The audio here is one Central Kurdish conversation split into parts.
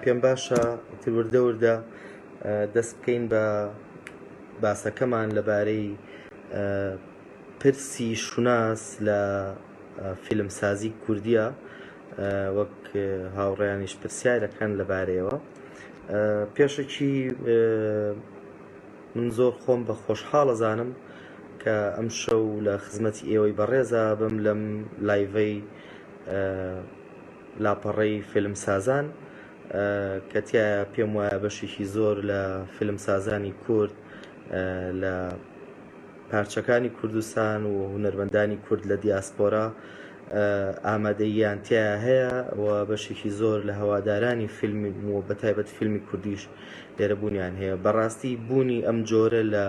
پێم باشە تروردە وردە دەست بکەین بە باسەکەمان لەبارەی پرسی شوناس لە فیلمسازی کوردیە وەک هاوڕێیانیش پرسیارەکەن لەبارەیەوە پێشەکی من زۆر خۆم بە خۆشحاڵە زانم کە ئەم شەو لە خزمەتی ئێوەی بەڕێزا بم لەم لایڤەی لاپەڕەی فیلمسازان کە تایە پێم وایە بەشێکی زۆر لە فیلمسازانی کورد لە پارچەکانی کوردستان و هونەرمەندانی کورد لە دیاسپۆرا ئامادەییان تیایا هەیە و بەشێکی زۆر لە هەوادارانی فیلم و بەتایبەت فیلمی کوردیش لێرە بوونیان هەیە بەڕاستی بوونی ئەم جۆرە لە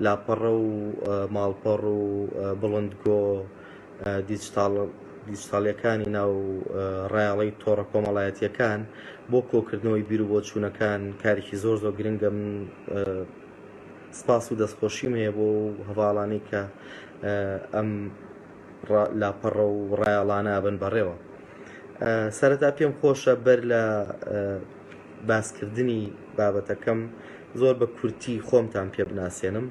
لاپەڕە و ماڵپەڕ و بڵندگۆ دیجتاڵ دیجتاڵیەکانی ناو ڕایەڵی تۆڕە کۆمەڵایەتیەکان بۆ کۆکردنەوەی بیر و بۆچوونەکان کارێکی زۆر زۆر گرنگە من سپاس و دەستخۆشیم هەیە بۆ هەواڵانی کە ئەم لاپەڕە و ڕایەڵانە بن بەڕێوە سەرەتا پێم خۆشە بەر لە باسکردنی بابەتەکەم زۆر بە کورتی خۆمتان پێ بناسێنم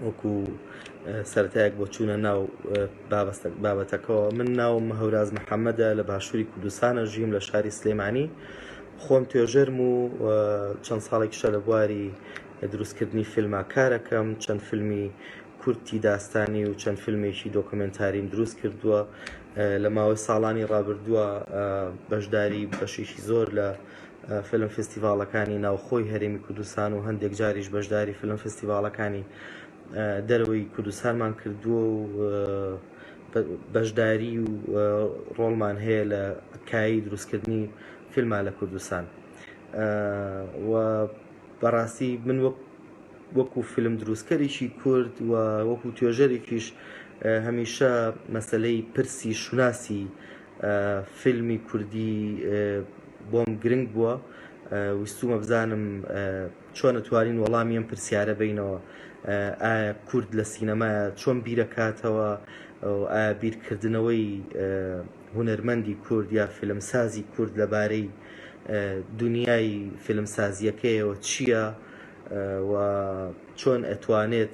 وەکو سەرتایەک بۆ چوونە ناو بابەتەکەەوە من ناوم هەوراز محەممەدە لە باشووری کوردستانە ژیم لە شاری سلێمانی خۆم توێژەرم و چەند ساڵێکیشە لە بواری دروستکردنی فیلمە کارەکەم چەند فیلمی کورتی داستانی و چەند فیلمێکی دۆکۆمێنتاریم دروست کردووە لە ماوەی ساڵانی ڕابردووە بەشداری بەشێکی زۆر لە فیلم فستیڤاڵەکانی ناوخۆی هەرێمی کوردستان و هەندێک جاریش بەشداری فیلم فستیڤاڵەکانی دەرەوەی کوردستانمان کردووە و بەشداری و ڕۆڵمان هەیە لە کایی دروستکردنی فیلمان لە کوردستان و بەڕاستی من وەک وەکو فیلم دروستکەرێکی کورد و وەکو توێژەرێکیش هەمیشە مەسەلەی پرسی شوناسی فیلمی کوردی بۆم گرنگ بووە ویستومە بزانم چۆن توانین وەڵامی ئەم پرسیارە بینەوە ئایا کورد لە سینەمایە چۆن بیرەکاتەوە ئایا بیرکردنەوەی هونەرمەندی کورد یا فیلمسازی کورد لەبارەی دنیای فیلمسازیەکەیەوە چییە؟ و چۆن ئەتوانێت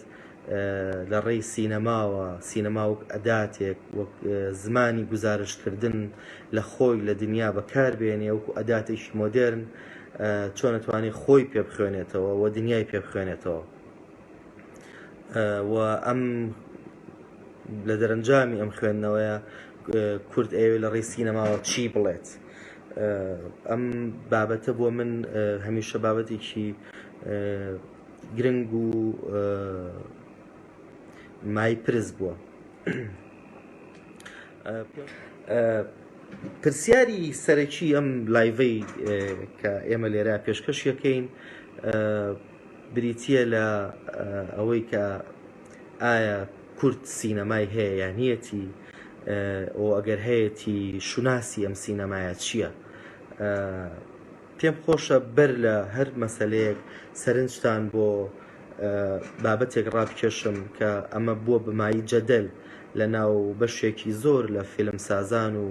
لە ڕێی سینەماوە، سینەما وەک ئەداتێک، وەک زمانی گوزارشتکردن لە خۆی لە دنیا بەکار بێنێ، وەکو ئەداتێکی مۆدێرن چۆن ئەتوانێت خۆی پێ بخوێنێتەوە و دنیای پێ بخوێنێتەوە و ئەم لە دەرەنجامی ئەم خوێندنەوەیە کورد ئەوێ لە ڕێی سینەماوە چی بڵێت؟ ئەم بابەتە بۆ من هەمیشە بابەتێکی گرنگ و مای پرس بووە پرسیاری سەرەکی ئەم لایڤەی کە ئێمە لێرا پێشکەش یەکەین بریتە لە ئەوەی کە ئایا کورد سینەمای هەیە یا نیەتی؟ و ئەگەر هەیەتی شوناسی ئەم سینەمایە چییە؟ پێم خۆشە بەر لە هەر مەسەلەیەک سەرنجتان بۆ بابەتێک ڕابکێشم کە ئەمە بووە بمایی جەدەل لە ناو بەشێکی زۆر لە فیلمسازان و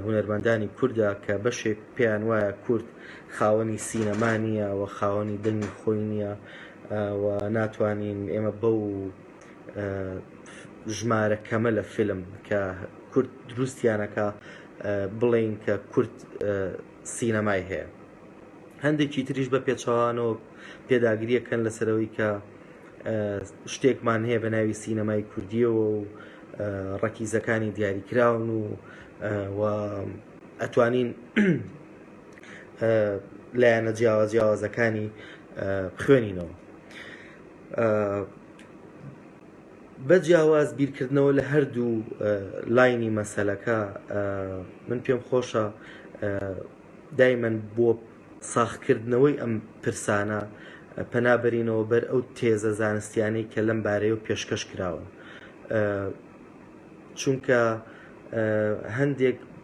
هونەرمەندانی کوردە کە بەشێک پێیان وایە کورد خاوەنی سینەما نییە و خاوەنی دەنگی خۆی نییە و ناتوانین ئێمە بەو ژمارە کەمە لە فیلم کە کورد دروستیانەکە بڵین کە کورد سینەمای هەیە هەندێکی تریش بە پێچەوانەوە پێداگریەکەن لەسەرەوەی کە شتێکمان هەیە بە ناوی سینەمای کوردیەوە و ڕەکیزەکانی دیاریکراون و و ئەتوانین لایەنە جیاواز جیاوازەکانی بخوێنینەوە بە جیاواز بیرکردنەوە لە هەردوو لاینی مەسەلەکە من پێم خۆشە دایمەن بۆ ساخکردنەوەی ئەم پرسانە پەنابەرینەوە بەر ئەو تێزە زانستیانەی کە لەم بارەیە و پێشکەش کراون چونکە هەندێک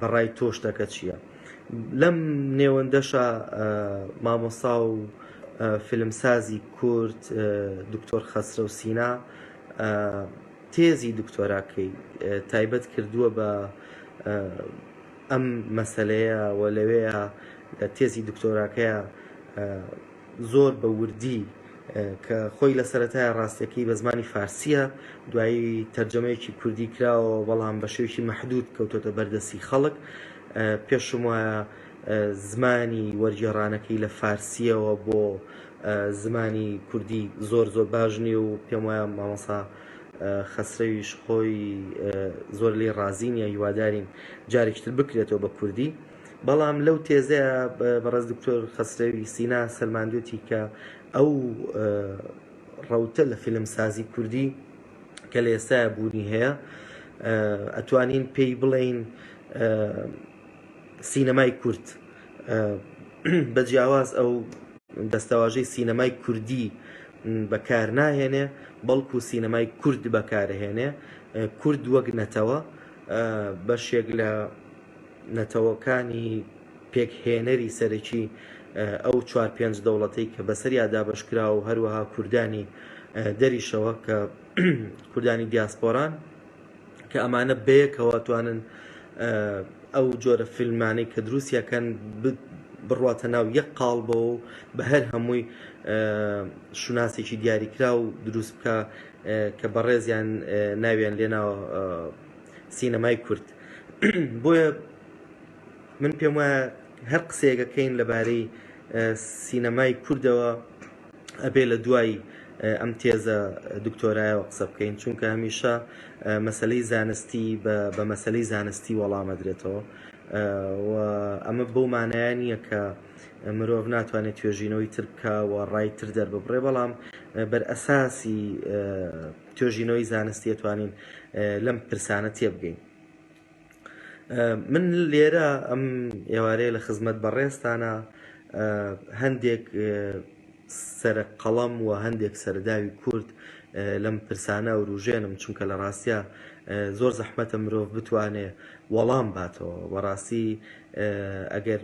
بەڕای تۆ شتەکە چییە؟ لەم نێوەندەشە مامۆسا و فیلمسازی کورد دکتۆر خەسرە و سینا تێزی دکتۆراکەی تایبەت کردووە بە ئەم مەسلەیە و لەوەیە تێزی دکتۆراکەیە زۆر بە وردی کە خۆی لە سەرەتایە ڕاستیەکەی بە زمانی فارسیە دوایی تەرجەمەیەکی کوردی کراوە بەڵام بە شێوکی مەحدود کەوتۆتە بەردەسی خەڵک پێشم وایە زمانی وەرگێڕانەکەی لە فارسیەوە بۆ زمانی کوردی زۆر زۆر باش نیە و پێم وایە مامەسا خەسرەویش خۆی زۆر لی ڕازی نیە هیوادارین جارێکتر بکرێتەوە بە کوردی بەڵام لەو تێزەیا بەڕێز دکتۆر خەسرەوی سینا سەلماندوێتی کە ئەو ڕەوتە لە فیلم سازی کوردی کە لە ئێستایا بوونی هەیە ئەتوانین پێی بڵێین سینەمای کورد بە جیاواز ئەو دەستەواژەی سینەمای کوردی بەکار ناهێنێ بەڵکو سینەمای کورد بەکارهێنێ کورد وەک نەتەوە بەشێک لە نەتەوەکانی پێکهێنەری سەرەکی ئەو چوار پێنج دەوڵەتەی کە بەسەریا دابەش کراوە و هەروەها کوردانی دەریشەوە کە کوردانی دیاسپۆران کە ئەمانە بەیەکەوە توانن ئەو جۆرە فیلمانەی کە دروستیەکەن بڕواتە ناو یەک قاڵبەوە و بە هەر هەمووی شوناسێکی دیاریکرا و دروست بکە کە بەڕێزیان ناویان لێناوە سینەمای کورد بۆیە من پێم وایە هەر قسەیەکەکەین لەبارەی سینەمای کوردەوە ئەبێ لە دوای ئەم تێزە دکتۆرایەوە قسە بکەین چونکە هەمیشە مەسلەی زانستی بە مەسلەی زانستی وەڵامەدرێتەوە ئەمە بەو مانایە نییە کە مرۆڤ ناتوانێت توێژینەوەی ترکە و ڕای تر دەرببڕێ بەڵام بەر ئەساسی توێژینەوەی زانستی ئەتوانین لەم پرسانە تێبگەین من لێرە ئەم ئێوارەیە لە خزمەت بەڕێزتانە هەندێک سەر قەڵەم و هەندێک سەرداوی کورد لەم پرسانە وروژێنم چونکە لە ڕاستە زۆر زەحمەتە مرۆڤ بتوانێ وەڵام باتەوە بەڕاستی ئەگەر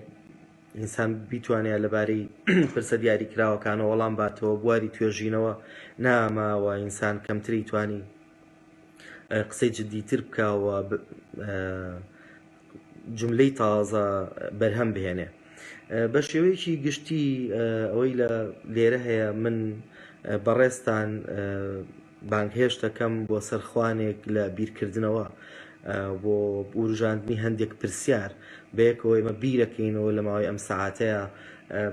ئینسان بیتوانێ لەبارەی پرسە دیاریکراوەکانەوە وەڵام باتەوە، بواری توێژینەوە ناما و ئینسان کەمتری توانی قسەی جدیتر بکا و جملەی تازە بەرهەم بهێنێ. بە شێوەیەکی گشتی ئەوەی لە لێرە هەیە من بەڕێزتان بانگهێشت دەکەم بۆ سەر خوانێک لە بیرکردنەوە بۆ وروژاندنی هەندێک پرسیار، بەیەکەوە ئێمە بیرەکەینەوە لە ماوەی ئەم سەعاتەیا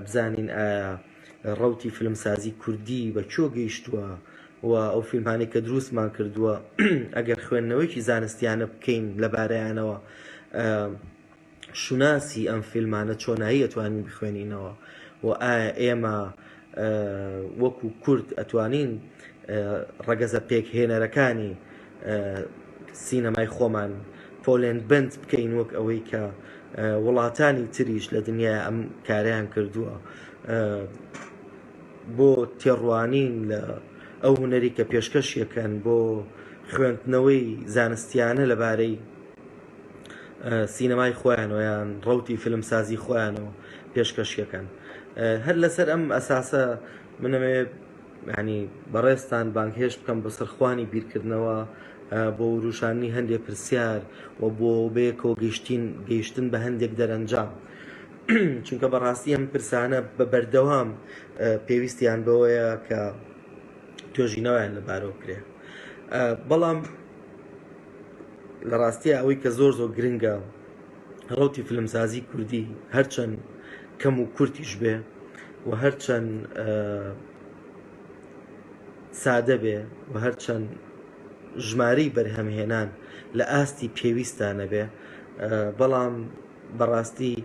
بزانین ئایا ڕەوتی فیلمسازی کوردی بە کوێ گەیشتووە و ئەو فیلمانەی کە دروستمان کردووە ئەگەر خوێندنەوەیەکی زانستیانە بکەین لەبارەیانەوە، شوناسی ئەم فیلمانە چۆنایی ئەتوانین بخوێنینەوە و ئایا ئێمە وەکو کورد ئەتوانین ڕەگەزە پێکهێنەرەکانی سینەمای خۆمان پۆلێن بند بکەین وەک ئەوەی کە وڵاتانی تریش لە دنیا ئەم کاریان کردووە بۆ تێڕوانین لە ئەو هوەری کە پێشکەشیەکەن بۆ خوێندنەوەی زانستیانە لەبارەی سینەمای خۆیانەوە یان ڕەوتی فیلمسازی خۆیانەوە پێشکەشیەکەن هەر لەسەر ئەم ئەساسە منەوێ ینی بەڕێستان بانگهێش بکەم بە سەرخوانی بیرکردنەوە بۆ وروشاننی هەندێ پرسیار و بۆ بەیەکەوە گەشتین گەیشتن بە هەندێک دەرەنجام چونکە بەڕاستی ئەم پرسانە بە بەردەوام پێویستیان بەوەیە کە توێژینەوەیان لەبارەوە کرێ بەڵام لە ڕاستیا ئەوەی کە زۆر زۆر گرنگە ڕەوتی فلمسازی کوردی هەرچەند کەم و کورتیش بێ و هەرچەند سادە بێ و هەرچەند ژمارەی بەرهەمهێنان لە ئاستی پێویستانە بێ بەڵام بەڕاستی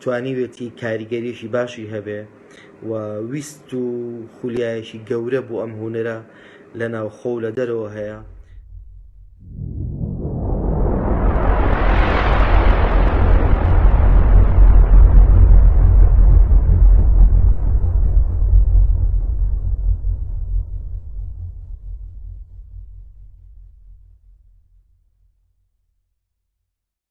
توانیوێتی کاریگەریشی باشی هەبێ و ویست و خولیایەکی گەورە بۆ ئەم هونەرە لە ناوخۆ و لە دەرەوە هەیە.